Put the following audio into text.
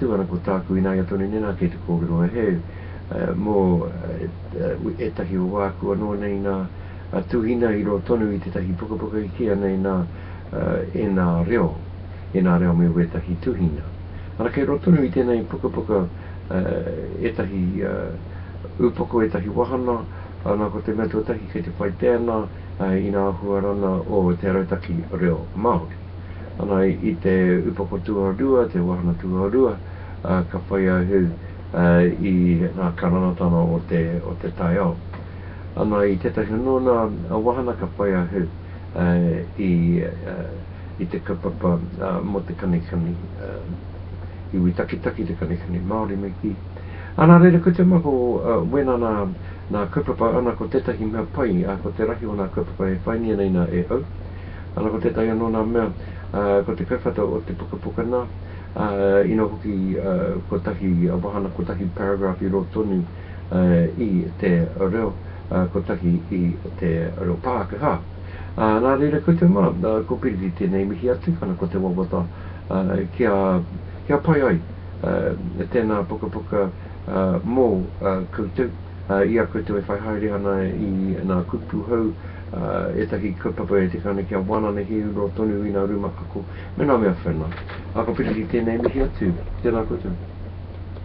Tuara ko tāku ināia tonu nei nā kei te kōrero e heu mō ētahi o āku anō nei nā tuhina i roa tonu i tētahi pukapuka i kīa nei nā ēnā reo, ēnā reo me wētahi tuhina. Ana kei roa tonu i tēnei pukapuka ētahi upoko, ētahi wahana, ana ko te mea tuatahi kei te whai pēana ina āhua rana o te arautaki reo Māori. Ana i te upoko tuarua, te wāhanga tuarua, ka whai a Hu i ngā karangatanga o te taiao. Ana i tētahi o nōna wāhanga ka whai a Hu i te kaupapa mō te kanikani, iwi takitaki, te kanikani Māori me kī. Ana reira ko te mako wena nā kaupapa ana ko tētahi mea pai ko te rahi o nā kaupapa e whai ngia nei nā e au. Ana ko tētahi anō nā mea, ko te kaiwhata o te pukapuka nā, ina hoki kotahi wāhanga, kotahi paragraph i rō tonu i te reo, kotahi i te reo Pākehā. Nā reira koutou mā, ko Piriti tēnei mihi atu, ana ko te wawata kia, kia pai ai tēnā pukapuka mō koutou, i a koutou e whai haere ana i nā kupu hou, ētahi kaupapa e te Kāne kia wānana he ururoa tonu i ngā rūmakako me ngā mea whena. Ā, ka piri ki tēnei mihi atu. Tēnā koutou.